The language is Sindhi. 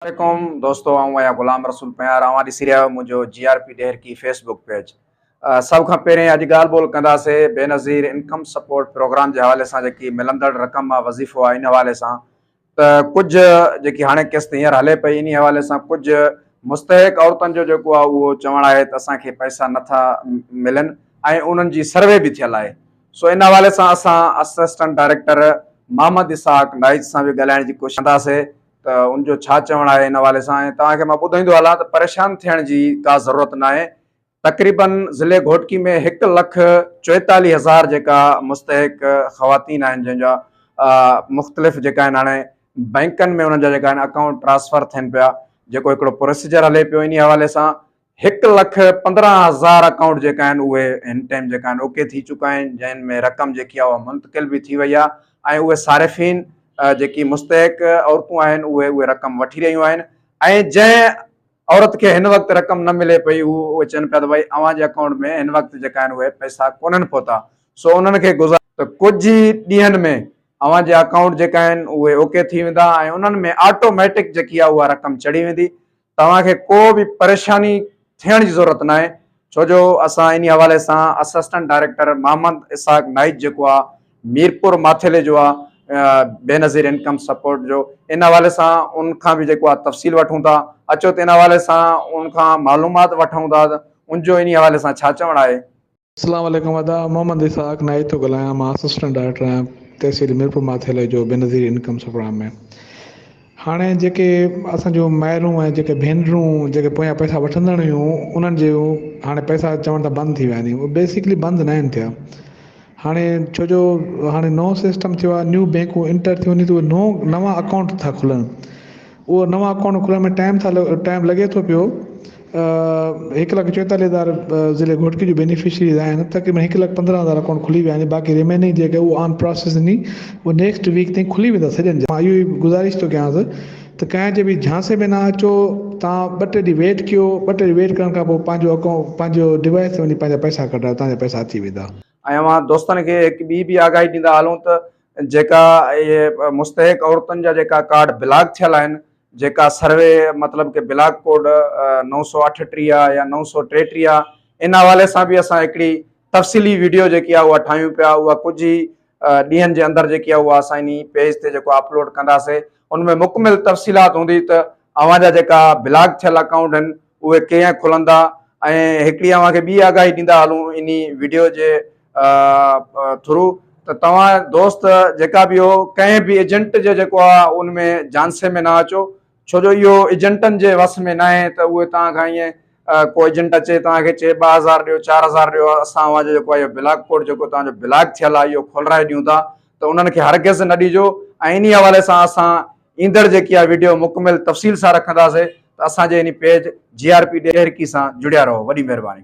عليڪم دوستو آئون آهيان غلام رسول پنهار اوهان ڏسي رهيا آهيو منهنجو G R P Daharki Facebook page سڀ کان پهرين اڄ ڳالهه ٻولهه ڪنداسي بينظير انڪم سپورٽ پروگرام جي حوالي سان جيڪي ملندڙ رقم آهي وظيفو آهي ان حوالي سان ته ڪجهه جيڪي هاڻي قسط هينئر هلي پئي انهي حوالي سان ڪجهه مستحق عورتن جو جيڪو آهي اهو چوڻ آهي ته اسان کي پئسا نٿا ملن ۽ انهن جي سروي به ٿيل آهي سو ان حوالي سان اسان اسسٽنٽ ڊائريڪٽر محمد اسحاق نائچ سان به ڳالهائڻ جي ڪوشش ڪنداسي ته ان جو ڇا چوڻ آهي ان حوالي سان ۽ توهان کي مان ٻڌائيندو هلان ته پريشان ٿيڻ جي ڪا ضرورت ناهي تقريباً ضلعي گهوٽڪي ۾ هڪ لک چوئيتاليهه هزار جيڪا مستحق خواتين آهن جن جا مختلف جيڪا آهن هاڻي بئنڪن ۾ انهن جا جيڪا آهن اڪائونٽ ٽرانسفر ٿين پيا جيڪو هڪڙو پروسيجر هلي پيو ان حوالي سان هڪ لک پندرهن هزار اڪائونٽ جيڪا آهن اهي هن ٽائيم جيڪا آهن اوڪي ٿي چڪا آهن جن ۾ رقم جيڪي آهي اها منتقل به ٿي وئي آهي ۽ اهي صارفين جيڪي مستحق عورتون آهن اهي اهي رقم وٺي رهيون آهن ۽ جنهن عورت کي هن وقت رقم نه ملي پئي هو اهي چون پيا ته ڀائي اوهان جي اڪائونٽ ۾ هن وقت جيڪا آهن اهي پئسا ڪونهن پهتا سو انهن کي گذار ته ڪجهه ئي ڏينهن ۾ اوهان جي اڪائونٽ جيڪا آهن اهي اوڪي ٿي ويندا ۽ انهن ۾ آٽوميٽڪ جيڪي آهي اها رقم چڙهي ويندي توهان کي ڪو به پريشاني ٿيڻ جي ضرورت ناهي ڇو جو اسان انهي حوالي سان اسسٽنٽ ڊائريڪٽر محمد اسحاق نائيچ جيڪو آ ميرپور ماٿيلي جو آ بينظير انڪم سپورٽ جو ان حوالي سان ان کان به جيڪو آ تفصيل وٺون ٿا اچو ته ان حوالي سان ان کان معلومات وٺون ٿا ان جو انهي حوالي سان ڇا چوڻ آهي. اسلام عليڪم ادا محمد اسحاق نائيد ٿو ڳالهايان مان اسسٽنٽ ڊائريڪٽر آهيان تحصيل ميرپور ماٿيلي جو بينظير انڪم سپرام ۾ هاڻي جيڪي اسان جون مائرون ۽ جيڪي ڀينرون جيڪي پويان پئسا وٺندڙ هيون انهن جي هاڻي پئسا چوڻ ته بند ٿي ويا آهن اهي بيسڪلي بند نه آهن ٿيا هاڻي ڇو جو هاڻي نئون سسٽم ٿيو آهي نيو بينڪون انٽر ٿيون ٿيون نئون نوان اڪائونٽ ٿا کلن اهو نوان اڪائونٽ کلڻ ۾ ٽائيم ٿا ٽائيم لڳي ٿو پيو هڪ لک چوئيتاليهه هزار ضلعي گهوٽڪي جون بينيفشريز آهن تقريبن هڪ لک پندرهن هزار اڪائونٽ کلي ويا آهن باقي ريميننگ جيڪي هو آن پراسيس هني اهي نيڪسٽ ويڪ تائين کلي ويندا سڄن جا مان اهو ئي گذارش ٿو ڪيانس ته ڪنهن جي به جھانسي ۾ نه اچو تان ٻه ٽي ڏينهن ويٽ ڪيو ٻه ٽي ڏينهن ويٽ ڪرڻ کان پوء پنهنجو اڪائونٽ پنهنجو ڊوائس تي وڃي پنهنجا پئسا ڪڍرايو تنهنجا پئسا اچي ويندا. ۽ اوهان دوستن کي هڪ ٻي به آگاهي ڏيندا هلون ته جيڪا اهي مستحق عورتن جا جيڪا ڪارڊ بلاڪ ٿيل آهن جيڪا سروي مطلب ڪي بلاڪ ڪوڊ نو سؤ اٺٽيهه يا نو سؤ ٽيٽيهه ان حوالي سان به اسان هڪڙي تفصيلي ويڊيو جيڪي آهي اها ٺاهيون پيا اها ڪجهه ئي ڏينهن جي اندر جيڪي آهي اها اسان انهي پيج تي جيڪو اپلوڊ ڪنداسي ان ۾ مڪمل تفصيلات هوندي ته اوهان جا جيڪا بلاڪ ٿيل اڪائونٽ آهن اهي ڪيئن کلندا ۽ هڪڙي اوهان کي ٻي آگاهي ڏيندا هلون انهي وڊيو جي ٿرو ته توهان دوست جيڪا به هو ڪنهن به ايجنٽ جي جيڪو آ ان ۾ جانسي ۾ نه اچو ڇو جو اهو ايجنٽن جي وس ۾ ناهي ته اهي توهان کان ائين ڪو ايجنٽ اچي توهان کي چئي ٻه هزار ڏيو چار هزار ڏيو اسان اوهان جو جيڪو آ اهو بلاڪ ڪوڊ جيڪو توهان جو بلاڪ ٿيل آ اهو کولرائي ڏيون ٿا ته انهن کي هرگز نه ڏجو ۽ انهي حوالي سان اسان ايندڙ جيڪي اها وڊيو مڪمل تفصيل سان رکنداسي ته اسان جي هن page G R P Daharki سان جڙيا رهو وڏي مهرباني.